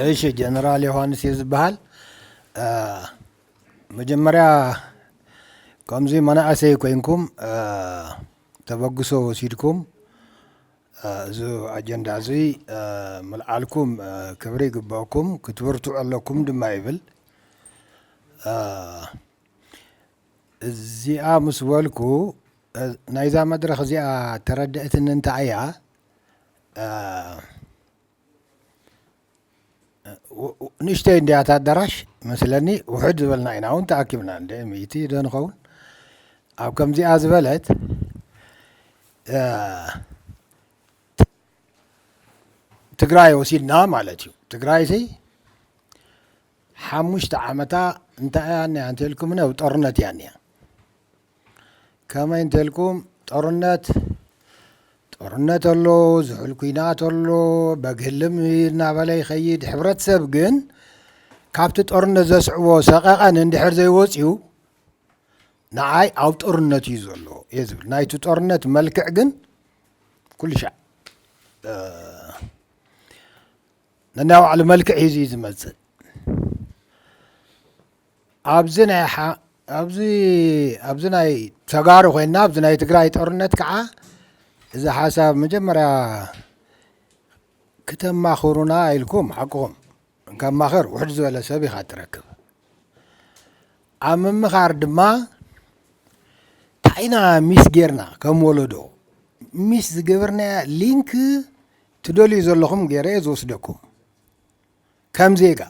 እሺ ጀነራል ዮሃንስ እየ ዝበሃል መጀመርያ ከምዚ መናእሰይ ኮይንኩም ተበግሶ ወሲድኩም እዚ ኣጀንዳ እዚ ምልዓልኩም ክብሪ ይግበኣኩም ክትብርትዑ ኣለኩም ድማ ይብል። እዚኣ ምስ በልኩ ናይዛ መድረኽ እዚኣ ተረድእትኒ እንታይ እያ ንእሽተይ እንድያ እታ ኣዳራሽ መስለኒ ውሕድ ዝበልና ኢና እውን ተኣኪብና እንደ ሚእቲ ዶ ንኸውን ኣብ ከምዚኣ ዝበለት ትግራይ ወሲድና ማለት እዩ ትግራይ ሲ ሓሙሽተ ዓመታ እንታይ እያ እኒኣ እንተልኩምኒ ኣብ ጦርነት እያ እኒኣ ከመይ እንተልኩም ጦርነት ጦርነት ኣሎ፣ ዝሑል ኩናት ኣሎ፣ በግ ህልም እናበለ ይኸይድ። ሕብረተሰብ ግን ካብቲ ጦርነት ዘስዕቦ ሰቐቐን እንድሕር ዘይወፅዩ ንዓይ ኣብ ጦርነት እዩ ዘሎ እየ ዝብል ናይቲ ጦርነት መልክዕ ግን ኩሉ ሻዕ ነናይ ባዕሉ መልክዕ ሒዙ እዩ ዝመፅእ ኣብዚ ናይ ኣብዚ ኣብዚ ናይ ተጋሩ ኮይና ኣብዚ ናይ ትግራይ ጦርነት ከዓ እዚ ሓሳብ መጀመርያ ክተማኽሩና ኢልኩም ሓቅኹም ካብ ማኸር ውሕድ ዝበለ ሰብ ኢኻ ትረክብ ኣብ ምምኻር ድማ ታይና ሚስ ጌርና ከም ወለዶ ሚስ ዝገበርናያ ሊንክ ትደልዩ ዘለኹም ገይረ ዝወስደኩም ከም ዜጋ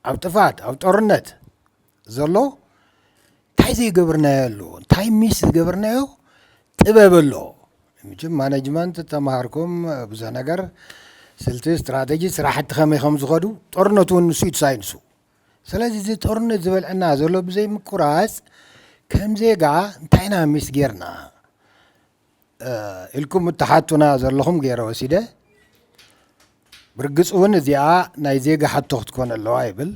ኣብ ጥፍኣት ኣብ ጦርነት ዘሎ እንታይ ዘይገብርናዮ ኣሎ እንታይ ሚስ ዝገብርናዮ ጥበብ ኣሎ ምችም ማነጅመንት ተምሃርኩም ብዙሕ ነገር ስልቲ ስትራተጂ ስራሕቲ ከመይ ከም ዝኸዱ ጦርነት እውን ንሱ እዩ ሳይንሱ ስለዚ እዚ ጦርነት ዝበልዐና ዘሎ ብዘይምቁራፅ ከም ዜጋ እንታይ ኢና ሚስ ጌርና ኢልኩም እትሓቱና ዘለኹም ገይረ ወሲደ ብርግፅ እውን እዚኣ ናይ ዜጋ ሕቶ ክትኮን ኣለዋ ይብል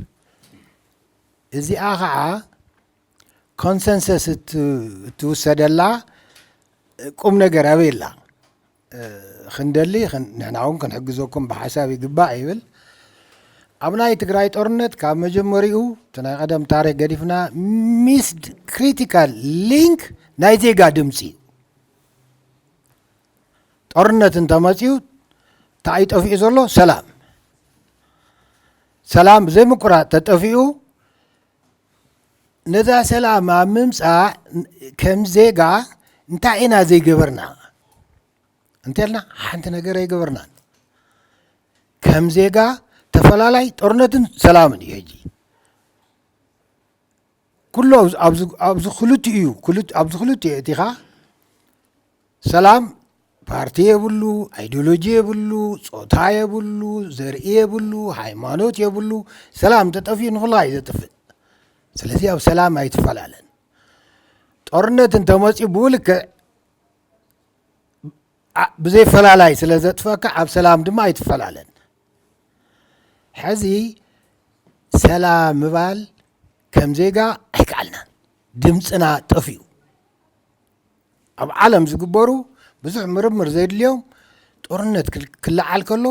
እዚኣ ከዓ ኮንሰንሰስ እትውሰደላ ቁም ነገር ኣበይ ኣላ ክንደሊ ንሕና እውን ክንሕግዘኩም ብሓሳብ ይግባእ ይብል ኣብ ናይ ትግራይ ጦርነት ካብ መጀመሪኡ እቲ ናይ ቀደም ታሪክ ገዲፍና ሚስድ ክሪቲካል ሊንክ ናይ ዜጋ ድምፂ እዩ ጦርነት እንተመፅኡ እንታይ እዩ ጠፊኡ ዘሎ ሰላም ሰላም ዘይምቁራፅ ተጠፊኡ ነዛ ሰላም ኣብ ምምፃእ ከም ዜጋ እንታይ ኢና ዘይገበርና እንተልና ሓንቲ ነገር ኣይገበርናን ከም ዜጋ ተፈላላይ ጦርነትን ሰላምን እዩ ሕጂ ኩሎ ኣብዚ ክልት እዩ ኣብዚ ክልት እዩ እቲኻ ሰላም ፓርቲ የብሉ ኣይዲዮሎጂ የብሉ ፆታ የብሉ ዘርኢ የብሉ ሃይማኖት የብሉ ሰላም ተጠፍኡ ንኹላ እዩ ዘጥፍእ ስለዚ ኣብ ሰላም ኣይትፈላለን ጦርነት እንተመፅኡ ብውልክዕ ብዘይ ፈላላይ ስለ ዘጥፈካ ኣብ ሰላም ድማ ኣይትፈላለን ሕዚ ሰላም ምባል ከም ዜጋ ኣይከኣልናን ድምፅና ጠፍኡ ኣብ ዓለም ዝግበሩ ብዙሕ ምርምር ዘድልዮም ጦርነት ክለዓል ከሎ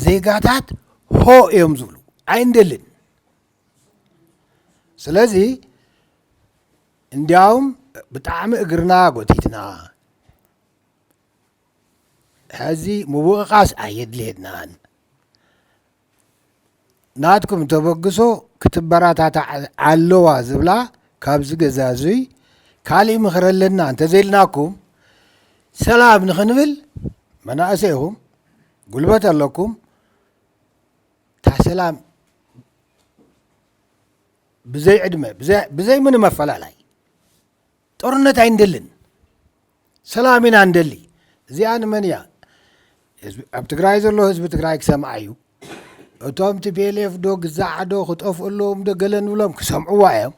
ዜጋታት ሆ እዮም ዝብሉ ኣይንደልን ስለዚ እንዲያውም ብጣዕሚ እግርና ጎቲትና ሕዚ ምውቕቓስ ኣየድልየናን ናትኩም ተበግሶ ክትበራታታዕ ኣለዋ ዝብላ ካብዚ ገዛ እዙይ ካሊእ ምኽሪ ኣለና እንተዘይልናኩም ሰላም ንኽንብል መናእሰይ ኢኹም ጉልበት ኣለኩም ታሰላም ብዘይ ዕድመ ብዘይ ምንም ኣፈላላይ ጦርነት ኣይንደልን ሰላም ኢና ንደሊ እዚኣ ንመን እያ ኣብ ትግራይ ዘሎ ህዝቢ ትግራይ ክሰምዓ እዩ እቶም ቲቤሌፍ ዶ ግዛዕ ዶ ክጠፍኡ ኣለዎም ዶ ገለ ንብሎም ክሰምዕዋ እዮም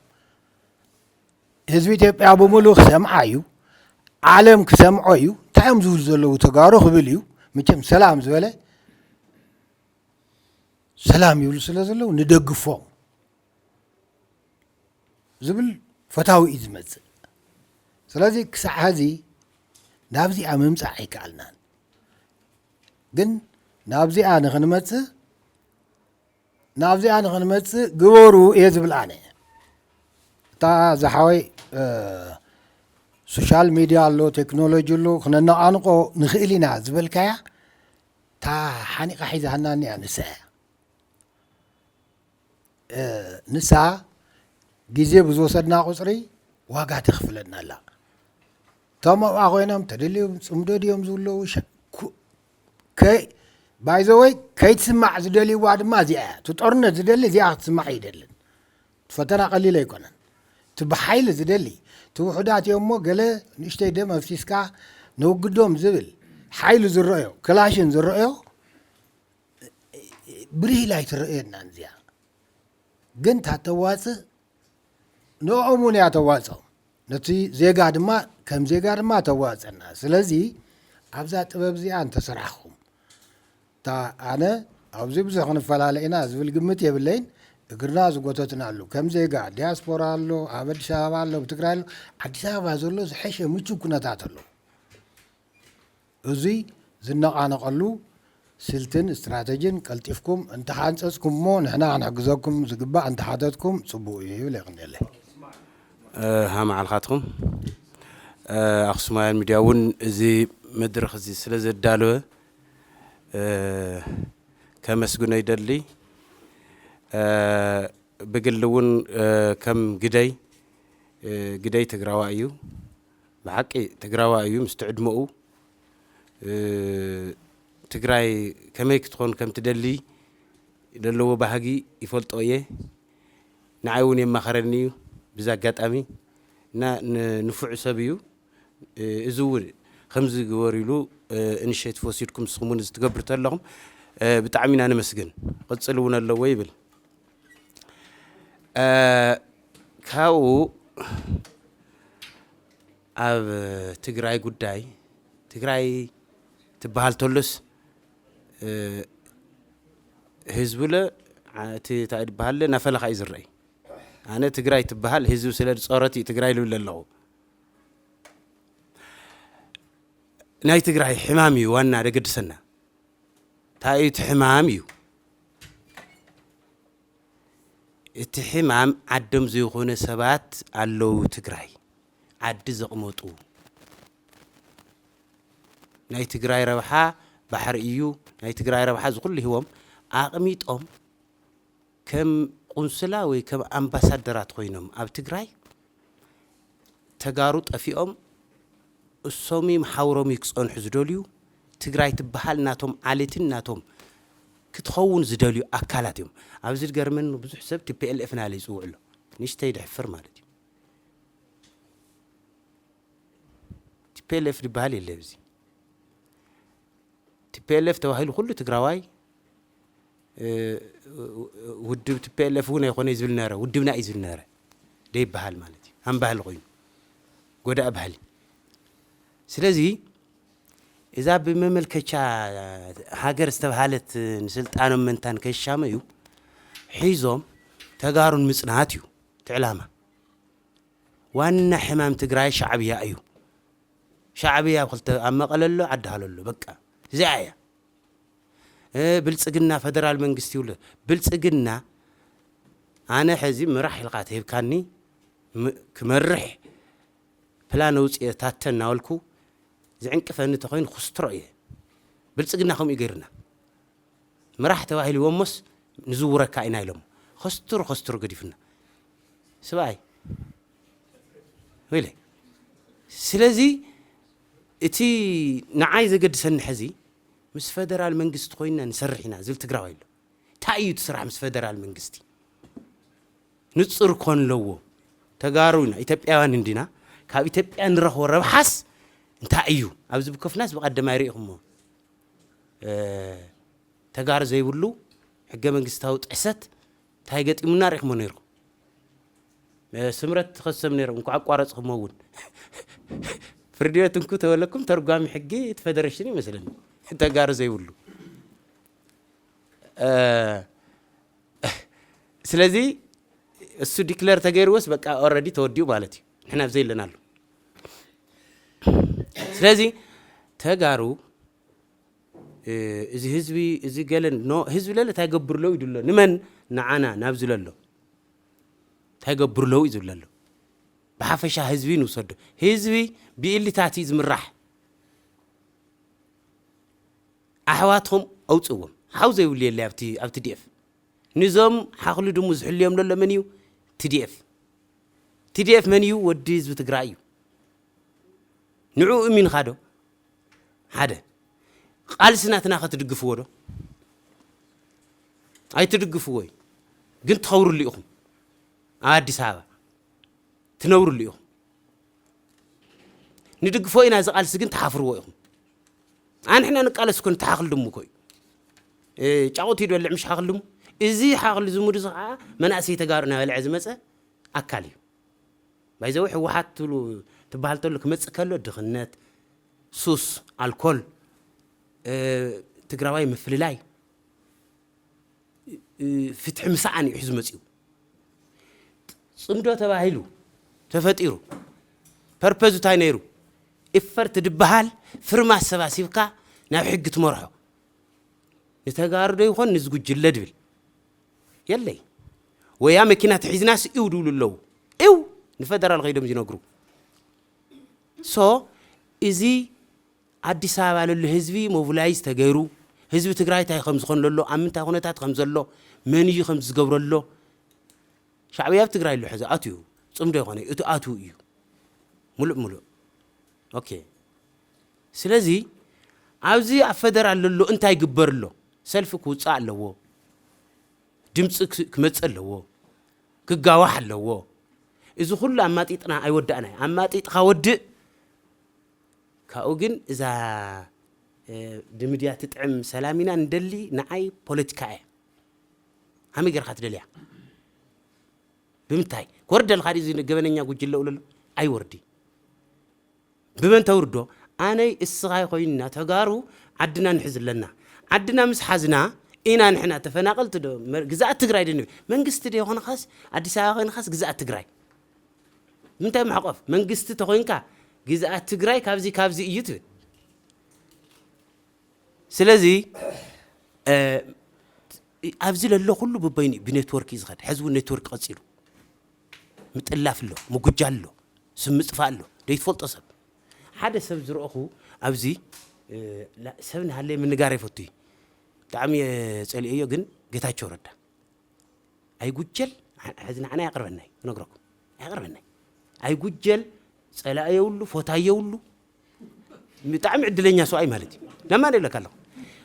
ህዝቢ ኢትዮጵያ ብምሉእ ክሰምዓ እዩ ዓለም ክሰምዖ እዩ እንታይ እዮም ዝብሉ ዘለዉ ተጋሩ ክብል እዩ መቸም ሰላም ዝበለ ሰላም ይብሉ ስለ ዘለዉ ንደግፎም ዝብል ፈታዊ እዩ ዝመፅእ ስለዚ ክሳዕ ሀዚ ናብዚኣ ምምፃእ ኣይከኣልናን ግን ናብዚኣ ንክንመፅእ ናብዚኣ ንክንመፅእ ግበሩ እየ ዝብል ኣነ እታ ዝሓወይ ሶሻል ሚድያ ኣሎ ቴክኖሎጂ ኣሎ ክነነቓንቆ ንኽእል ኢና ዝበልካያ እታ ሓኒቓ ሒዛትና እኒኣ ንሳ እያ። ንሳ ግዜ ብዝወሰድና ቁፅሪ ዋጋ ተኽፍለና ኣላ። እቶም ኣብኣ ኮይኖም ተደልዮም ፅምዶ ድዮም ዝብለዉ ባይዘወይ ከይትስማዕ ዝደልይዋ ድማ እዚኣ እያ። እቲ ጦርነት ዝደሊ እዚኣ ክትስማዕ ኣይደልን። ፈተና ቀሊል ኣይኮነን እቲ ብሓይሊ ዝደሊ እቲ ውሑዳት እዮም እሞ ገለ ንእሽተይ ደም ኣፍሲስካ ነውግዶም ዝብል ሓይሉ ዝረኣዮ ክላሽን ዝረኣዮ ብርህ ኢላ ኣይትረኣየናን እዚኣ ግን እታ ተዋፅእ ንኦም እውን እያ ተዋፅኦም ነቲ ዜጋ ድማ ከም ዜጋ ድማ ተዋፅና ስለዚ ኣብዛ ጥበብ እዚኣ እንተሰራሕኹም እታ ኣነ ኣብዚ ብዙሕ ክንፈላለ ኢና ዝብል ግምት የብለይን፣ እግርና ዝጎተትናሉ ከም ዜጋ ዲያስፖራ ኣሎ፣ ኣብ ኣዲስ ኣበባ ኣሎ፣ ኣብ ትግራይ ኣሎ፣ ኣዲስ ኣበባ ዘሎ ዝሐሸ ምቹው ኩነታት ኣሎ። እዙይ ዝነቓነቐሉ ስልትን ስትራተጅን ቀልጢፍኩም እንተሓንፀፅኩም እሞ ንሕና ክንሕግዘኩም ዝግባእ እንተሓተትኩም ፅቡቕ እዩ ይብል የቕንየለይ። ሃ መዓልካትኩም ኣክሱማውያን ሚድያ እውን እዚ መድረክ እዚ ስለ ዘዳለወ ከመስግኖ ይደሊ። ብግሊ እውን ከም ግደይ ግደይ ትግራዋ እዩ ብሓቂ ትግራዋ እዩ ምስቲ ዕድመኡ ትግራይ ከመይ ክትኾን ከም ትደሊ ዘለዎ ባህጊ ይፈልጦ እየ ንዓይ እውን የማኸረኒ እዩ ብዛ ኣጋጣሚ እና ንፉዕ ሰብ እዩ እዚ እውን ከምዚ ግበርሉ ኢኒሼቲቭ ወሲድኩም ንስኹም እውን እዚ ትገብሩ ተለኹም ብጣዕሚ ኢና ነመስግን ቕፅል እውን ኣለዎ ይብል ካብኡ ኣብ ትግራይ ጉዳይ ትግራይ ትበሃል ተሎስ ህዝብለ እቲ እንታይ ዝበሃለ ናፈለኻ እዩ ዝረአይ ኣነ ትግራይ ትበሃል ህዝቢ ስለ ዝፀረት እዩ ትግራይ ልብል ኣለኹ ናይ ትግራይ ሕማም እዩ ዋና ደገድሰና እንታይ እዩ እቲ ሕማም እዩ እቲ ሕማም ዓዶም ዘይኮነ ሰባት ኣለዉ ትግራይ ዓዲ ዘቕመጡ ናይ ትግራይ ረብሓ ባሕሪ እዩ ናይ ትግራይ ረብሓ ዝኩሉ ሂቦም ኣቕሚጦም ከም ቁንስላ ወይ ከም ኣምባሳደራት ኮይኖም ኣብ ትግራይ ተጋሩ ጠፊኦም እሶምይም ሓውሮምይ ክፀንሑ ዝደልዩ ትግራይ ትበሃል ናቶም ዓሌትን ናቶም ክትኸውን ዝደልዩ ኣካላት እዮም ኣብዚ ዝገርመኒ ብዙሕ ሰብ tplf ናለይ ይፅውዕ ኣሎ ንሽተይ ድሕፍር ማለት እዩ tplf ዝበሃል የለ ኣብዚ tplf ተባሂሉ ኩሉ ትግራዋይ ውድብ ቲፔኤልኤፍ እውን ኣይኮነይ ዝብል ነረ ውድብና እዩ ዝብል ነረ ደይበሃል ማለት እዩ ሃም ባህሊ ኮይኑ ጎዳእ ባህሊ ስለዚ እዛ ብመመልከቻ ሃገር ዝተብሃለት ንስልጣኖም መንታን ከሻመዩ ሒዞም ተጋሩን ምጽናት እዩ ትዕላማ ዋና ሕማም ትግራይ ሻዕብያ እዩ ሻዕብያ ኣብ ክልተ ኣብ መቐለ ኣሎ ዓዲ ሃሎ ኣሎ በቃ እዚኣ እያ ብልፅግና ፈደራል መንግስቲ ይብሉ ብልፅግና ኣነ ሕዚ ምራሕ ኢልካ ተሂብካኒ ክመርሕ ፕላን ኣውፅኤ ታተ እናበልኩ ዝዕንቅፈኒ ተኮይኑ ክስትሮ እየ ብልፅግና ከምኡ ገይርና ምራሕ ተባሂልዎሞስ ንዝውረካ ኢና ኢሎም ከስትሩ ከስትሩ ገዲፍና ስብኣይ ወይለ ስለዚ እቲ ንዓይ ዘገድሰኒ ሐዚ ምስ ፈደራል መንግስቲ ኮይንና ንሰርሕ ኢና ዝብል ትግራዋይ ኣሎ ታይ እዩ እቲ ስራሕ ምስ ፈደራል መንግስቲ ንፁር ኮን ለዎ ተጋሩ ኢና ኢትዮጵያውያን እንዲና ካብ ኢትዮጵያ ንረኽቦ ረብሓስ እንታይ እዩ ኣብዚ ብኮፍናስ ብቀደማይ ሪኢኹሞ ተጋሩ ዘይብሉ ሕገ መንግስታዊ ጥሕሰት ታይ ገጢሙና ሪኢኹሞ ነይርኹም ስምረት ትኸሰም ነይሮም እንኳዕ ኣቋረፅኹሞ እውን ፍርድቤት እንኩ ተበለኩም ተርጓሚ ሕጊ እቲ ፌደሬሽን ይመስለኒ ተጋሩ ዘይብሉ ስለዚ እሱ ዲክለር ተገይርዎስ በቃ ኦረዲ ተወዲኡ ማለት እዩ ንሕና ብዘይ ኣለና ኣሉ ስለዚ ተጋሩ እዚ ህዝቢ እዚ ገለን ህዝቢ ለለ እንታይ ገብርሎ ይድሎ ንመን ንዓና ናብ ዝለሎ እንታይ ይገብሩ ኣለዉ እዩ ዝብለ ዘሎ። ብሓፈሻ ህዝቢ ንውሰዶ። ህዝቢ ብኢሊታት እዩ ዝምራሕ። ኣሕዋትኹም ኣውፅዎም። ሓው ዘይብሉ የለ ኣብቲ ኣብ ቲዲኤፍ። ንዞም ሓኽሉ ድሙ ዝሕልዮም ዘሎ መን እዩ? ቲዲኤፍ። ቲዲኤፍ መን እዩ? ወዲ ህዝቢ ትግራይ እዩ። ንዕኡ እሚንኻ ዶ? ሓደ ቃልሲ ናትና ከ ትድግፍዎ ዶ ኣይትድግፍዎ እዩ ግን ትኸብርሉ ኢኹም ኣብ ኣዲስ ኣበባ ትነብርሉ ኢኹም ንድግፎ ኢና እዚ ቃልሲ ግን ትሓፍርዎ ኢኹም ኣንሕና ንቃለስ እኮ ንተሓኽል ድሙ እኮ እዩ ጫቑት እዩ ድበልዕ ምሽ ሓኽል ድሙ እዚ ሓኽል ዝሙድ እዚ ከዓ መናእሰይ ተጋሩ እናበልዐ ዝመፀ ኣካል እዩ ባይዘወይ ሕወሓት ትብሉ ትበሃል ተሎ ክመፅእ ከሎ ድኽነት፣ ሱስ፣ ኣልኮል፣ ትግራዋይ ምፍልላይ፣ ፍትሒ ምስኣን እዩ ሒዙ መፂኡ። ፅምዶ ተባሂሉ ተፈጢሩ ፐርፐዙ እንታይ ነይሩ? ኢፈርት ድበሃል ፍርማ ኣሰባሲብካ ናብ ሕጊ ትመርሖ ንተጋርዶ ይኾን ንዝጉጅለ ድብል የለይ ወያ መኪና ተሒዝናስ ኢው ድብሉ ኣለው ኢው ንፈደራል ከይዶም ዝነግሩ ሶ እዚ ኣዲስ ኣበባ ለሎ ህዝቢ ሞቪላይዝ ተገይሩ ህዝቢ ትግራይ እንታይ ከም ዝኾን ለሎ ኣብ ምንታይ ኩነታት ከም ዘሎ መን እዩ ከም ዝገብረሎ ሻዕብያ ኣብ ትግራይ ኣሎ ሕዚ ኣትዩ ፅምዶ ይኾነ እቲ ኣትው እዩ ሙሉእ ሙሉእ ኦኬ ስለዚ ኣብዚ ኣብ ፈደራል ለሎ እንታይ ይግበር ኣሎ ሰልፊ ክውጻእ ኣለዎ ድምጺ ክመጽእ ኣለዎ ክጋዋሕ ኣለዎ እዚ ኩሉ ኣማጢጥና ኣይወዳእናይ ኣማጢጥካ ወድእ ካብኡ ግን እዛ ድምድያ ትጥዕም ሰላም ኢና ንደሊ ንዓይ ፖለቲካ እያ ሃመይ ጌርካ ትደልያ ብምንታይ ክወርደልካ ድዩ ገበነኛ ጉጅለ ውለሎ ኣይወርዲ ብመን ተውርዶ ኣነይ እስኻይ ኮይንና ተጋሩ ዓድና ንሕዝ ኣለና ዓድና ምስ ሓዝና ኢና ንሕና ተፈናቀልቲ ዶ ግዝኣት ትግራይ ዶ ንብል መንግስቲ ዶ ኮንኻስ ኣዲስ ኣበባ ኮይንኻስ ግዝኣት ትግራይ ምንታይ ማሕቆፍ መንግስቲ ተኮይንካ ግዝኣት ትግራይ ካብዚ ካብዚ እዩ ትብል ስለዚ ኣብዚ ለሎ ኩሉ ብበይኑ ብኔትወርክ እዩ ዝኸድ ሕዚ እውን ኔትወርክ ቀፂሉ ምጥላፍ ኣሎ ምጉጃል ኣሎ ስም ምጥፋእ ኣሎ ደይትፈልጦ ሰብ ሓደ ሰብ ዝረእኹ ኣብዚ ሰብ ንሃለየ ምንጋር ኣይፈቱ እዩ ብጣዕሚ እየ ጸሊኦዮ ግን ጌታቸው ረዳ ኣይጉጀል ሕዚ ንዓና ኣየቕርበናይ ክነግረኩም ኣየቕርበናይ ኣይጉጀል ጸላእ የብሉ ፎታይ የብሉ ብጣዕሚ ዕድለኛ ሰብኣይ ማለት እዩ ለማ ደለካ ኣለኹ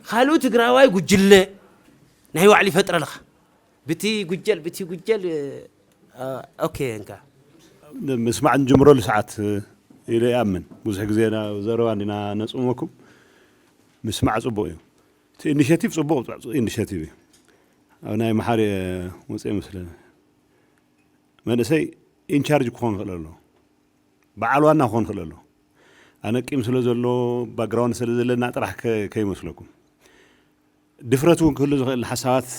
ካልኡ ትግራዋይ ጉጅለ ናይ ባዕሉ ይፈጥረ ኣለኻ ብቲ ጉጀል ብቲ ጉጀል ኦኬ እንካ ምስማዕ ንጅምረሉ ሰዓት ኢለ ይኣምን ብዙሕ ግዜ ዘረባ እንዲና ነፅመኩም ምስማዕ ፅቡቅ እዩ እቲ ኢኒሽቲቭ ፅቡቅ ኢኒሽቲቭ እዩ ኣብ ናይ መሓሪ ወፅኤ መስለኒ መንእሰይ ኢንቻርጅ ክኾን ይኽእል ኣሎ በዓል ዋና ክኾን ይኽእል ኣሎ ኣነ ቂም ስለ ዘሎ ባግራውንድ ስለ ዘለና ጥራሕ ከ ከይመስለኩም ድፍረት እውን ክህሉ ዝኽእል ሓሳባት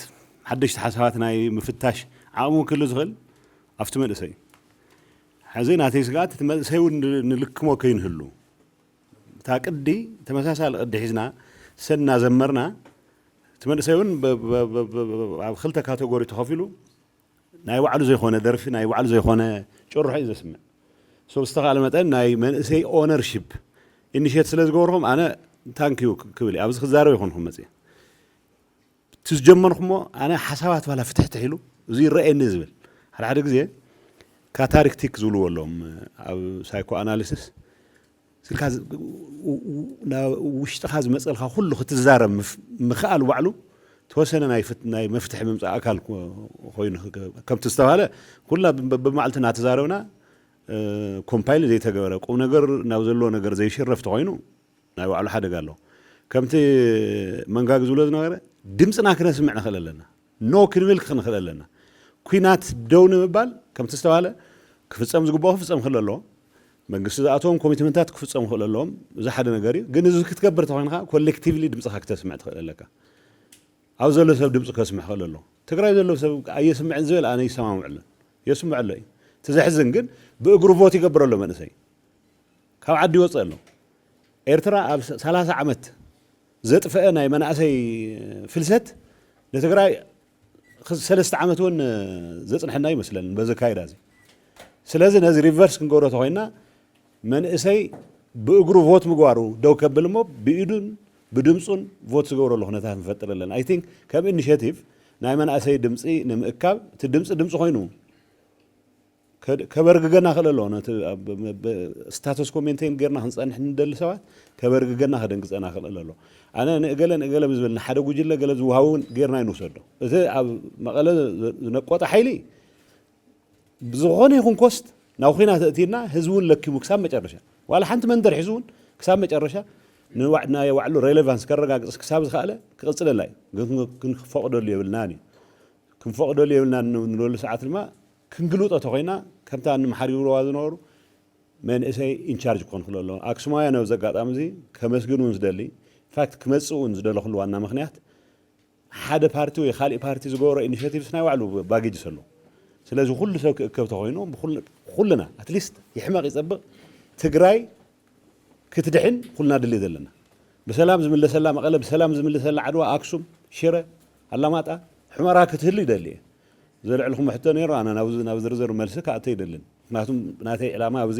ሓደሽቲ ሓሳባት ናይ ምፍታሽ ዓቕሚ እውን ክህሉ ዝኽእል ኣብቲ መንእሰይ እዩ ሕዚ ናተይ ስግኣት እቲ መንእሰይ እውን ንልክሞ ከይንህሉ እታ ቅዲ ተመሳሳሊ ቅዲ ሒዝና ሰን እናዘመርና እቲ መንእሰይ እውን ኣብ ክልተ ካተጎሪ ተኸፊሉ ናይ ባዕሉ ዘይኮነ ደርፊ ናይ ባዕሉ ዘይኮነ ጭርሖ እዩ ዘስምዕ ሶ ብዝተኻለ መጠን ናይ መንእሰይ ኦነርሺፕ ኢኒሼት ስለ ዝገበርኩም ኣነ ታንክ ዩ ክብል እዩ ኣብዚ ክዛረብ ይኮንኩም መፅእ እቲ ዝጀመርኩሞ ኣነ ሓሳባት ባላ ፍትሕትሕ ኢሉ እዚ ይረኣየኒ ዝብል ሓደ ሓደ ግዜ ካታሪክቲክ ዝብልዎ ኣለዎም ኣብ ሳይኮ ኣናሊሲስ ኢልካ ናብ ውሽጥኻ ዝመጸልካ ኩሉ ክትዛረብ ምኽኣል ባዕሉ ተወሰነ ናይ መፍትሒ ምምጻእ ኣካል ኮይኑ ከምቲ ዝተባህለ ኩላ በብመዓልቲ እናተዛረብና ኮምፓይል ዘይተገበረ ቁም ነገር ናብ ዘለዎ ነገር ዘይሽረፍ ተኾይኑ ናይ ባዕሉ ሓደጋ ኣለዎ። ከምቲ መንጋግ ዝብሎ ዝነበረ ድምጽና ክነስምዕ ንኽእል ኣለና። ኖ ክንብል ክንኽእል ኣለና። ኲናት ደው ንምባል ከምቲ ዝተባህለ ክፍጸም ዝግብኦ ክፍጸም ክኽእል ኣለዎ። መንግስቲ ዝኣተዎም ኮሚትመንታት ክፍጸሙ ክኽእል ኣለዎም። እዚ ሓደ ነገር እዩ። ግን እዚ ክትገብር ተኾይንካ ኮሌክቲቭሊ ድምጽኻ ክተስምዕ ትኽእል ኣለካ። ኣብዚ ዘሎ ሰብ ድምጹ ከስምዕ ክኽእል ኣለዎ። ትግራይ ዘሎ ሰብ ኣየስምዕን ዝበል ኣነ ኣይሰማምዐሉን። የስምዕ ኣሎ እዩ። እቲ ዘሕዝን ግን ብእግሩ ቮት ይገብር ኣሎ መንእሰይ። ካብ ዓዲ ይወጽእ ኣሎ። ኤርትራ ኣብ ሰላሳ ዓመት ዘጥፈኣ ናይ መናእሰይ ፍልሰት ንትግራይ ሰለስተ ዓመት እውን ዘፅንሐና ኣይመስለንን በዚ ኣካይዳ እዚ ስለዚ ነዚ ሪቨርስ ክንገብሮ ተኮይና መንእሰይ ብእግሩ ቮት ምግባሩ ደው ከብል እሞ ብኢዱን ብድምፁን ቮት ዝገብረሉ ኩነታት ንፈጥር ኣለና ኣይ ቲንክ ከም ኢኒሽቲቭ ናይ መናእሰይ ድምፂ ንምእካብ እቲ ድምፂ ድምፂ ኮይኑ ከበርግገና ክእል ኣለዎ ነቲ ስታተስኮ ሜንቴን ጌርና ክንጸንሕ ንደሊ ሰባት ከበርግገና ከደንግጸና ክእል ኣለዎ ኣነ ንእገለ ንእገለ ምስ በልና ሓደ ጉጅለ ገለ ዝውሃቦ እውን ጌርና ይንውሰዶ እቲ ኣብ መቐለ ዝነቆጠ ሓይሊ ብዝኾነ ይኹን ኮስት ናብ ኹናት እእቲና ህዝቢ እውን ለኪሙ ክሳብ መጨረሻ ዋላ ሓንቲ መንደር ሒዙ እውን ክሳብ መጨረሻ ናይ ባዕሉ ሬሌቫንስ ከረጋግጽ ክሳብ ዝኸኣለ ክቕጽለላ እዩ ግን ክንፈቕደሉ የብልናን እዩ ክንፈቕደሉ የብልናን ንበሉ ሰዓት ድማ ክንግልጦ ተኾይና ከምታ ንምሓር ይብልዋ ዝነበሩ መንእሰይ ኢንቻርጅ ክኾን ክሎ ኣለዎ። ኣክሱማውያን ኣብዚ ኣጋጣሚ እዚ ከመስግን እውን ዝደሊ ኢንፋክት ክመጽእ እውን ዝደለኹሉ ዋና ምክንያት ሓደ ፓርቲ ወይ ካልእ ፓርቲ ዝገበሮ ኢኒሼቲቭስ ናይ ባዕሉ ባጌጅስ ኣለዎ። ስለዚ ኩሉ ሰብ ክእከብ ተኾይኑ ኩልና ኣትሊስት ይሕመቕ ይጸብቕ ትግራይ ክትድሕን ኩልና ድልት ዘለና ብሰላም ዝምለሰላ መቐለ ብሰላም ዝምለሰላ ዓድዋ ኣክሱም ሽረ ኣላማጣ ሑመራ ክትህሉ ይደሊ እየ። ዘልዕልኩሞ ሕቶ ነይሩ ኣነ ናብዚ ናብ ዝርዝር መልሲ ክኣቱ ኣይደልን ምክንያቱ ናተይ ዕላማ ኣብዚ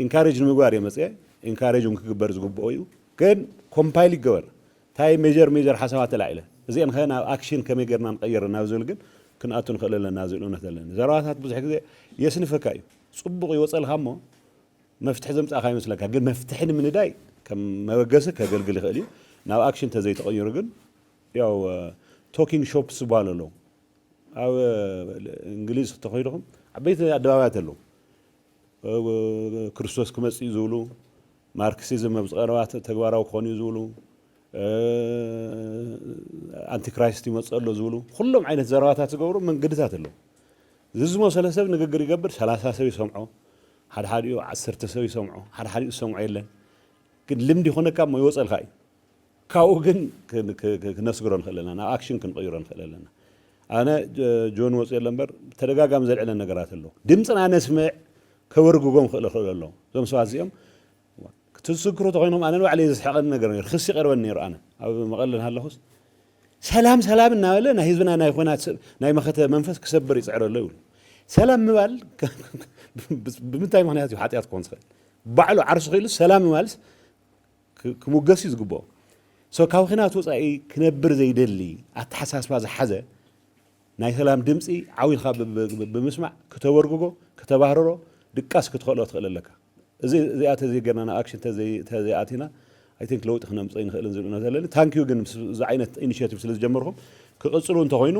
ኢንካሬጅ ንምግባር እየ መፅየ ኢንካሬጅ እውን ክግበር ዝግብኦ እዩ ግን ኮምፓይል ይገበር እንታይ ሜጀር ሜጀር ሓሳባት ተላዒለ እዚአን ከ ናብ ኣክሽን ከመይ ጌርና ንቐይር ናብ ዝብል ግን ክንኣቱ ንኽእል ኣለና ዝብል እምነት ኣለኒ ዘረባታት ብዙሕ ግዜ የስንፈካ እዩ ፅቡቕ ይወፀልካ እሞ መፍትሒ ዘምፃእካ ይመስለካ ግን መፍትሒ ንምንዳይ ከም መበገሲ ከገልግል ይኽእል እዩ ናብ ኣክሽን ተዘይተቐይሩ ግን ያው ቶኪንግ ሾፕስ ዝበሃሉ ኣለዉ ኣብ እንግሊዝ ተኾይድኹም ዓበይቲ ኣደባባያት ኣለዉ ክርስቶስ ክመጽእ እዩ ዝብሉ ማርክሲዝም ኣብዚ ቀረባ ተግባራዊ ክኾን እዩ ዝብሉ ኣንቲክራይስት ይመጽእ ኣሎ ዝብሉ ኩሎም ዓይነት ዘረባታት ዝገብሩ መንገድታት ኣለዉ እዚ ዝመሰለ ሰብ ንግግር ይገብር ሰላሳ ሰብ ይሰምዖ ሓድሓዲኡ ዓሰርተ ሰብ ይሰምዖ ሓድሓዲኡ ዝሰምዖ የለን ግን ልምዲ ይኾነካ እሞ ይወፀልካ እዩ ካብኡ ግን ክነስግሮ ንኽእል ኣለና፣ ናብ ኣክሽን ክንቕይሮ ንኽእል ኣለና። ኣነ ጆን ወጽየ ኣሎ እምበር ብተደጋጋሚ ዘልዕለን ነገራት ኣሎ። ድምጽና ነስምዕ ከበርግጎም ክእል ይኽእል ኣሎ። እዞም ሰባት እዚኦም እቲ ዝስክሩ ተኾይኖም ኣነ ንባዕለይ ዘስሕቐኒ ነገር ነይሩ፣ ክሲ ይቐርበኒ ነይሩ። ኣነ ኣብ መቐለ እናሃለኹስ ሰላም ሰላም እናበለ ናይ ህዝብና ናይ ኹናት ናይ መኸተ መንፈስ ክሰብር ይጽዕር ኣሎ ይብሉ። ሰላም ምባል ብምንታይ ምኽንያት እዩ ሓጢኣት ክኾን ዝኽእል? ባዕሉ ዓርሱ ክኢሉ ሰላም ምባልስ ክሙገስ እዩ ዝግብኦ። So ካብ ኹናት ወፃኢ ክነብር ዘይደሊ ኣተሓሳስባ ዝሓዘ ናይ ሰላም ድምፂ ዓው ኢልኻ ብምስማዕ ክተበርግጎ፣ ክተባህርሮ፣ ድቃስ ክትኸእሎ ትኽእል ኣለካ። እዚኣ ተዘይገርና ናብ ኣክሽን ተዘይኣቲና I think ለውጢ ክነምፅእ ኣይንኽእልን ዝብል እምነት ኣለኒ። Thank you ግን ምስ እዚ ዓይነት initiative ስለ ዝጀመርኹም ክቕፅሉ እንተኾይኑ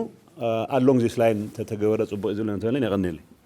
along this line ተተገበረ ፅቡቕ እዩ ዝብል እምነት ኣለኒ። የቐንየለይ።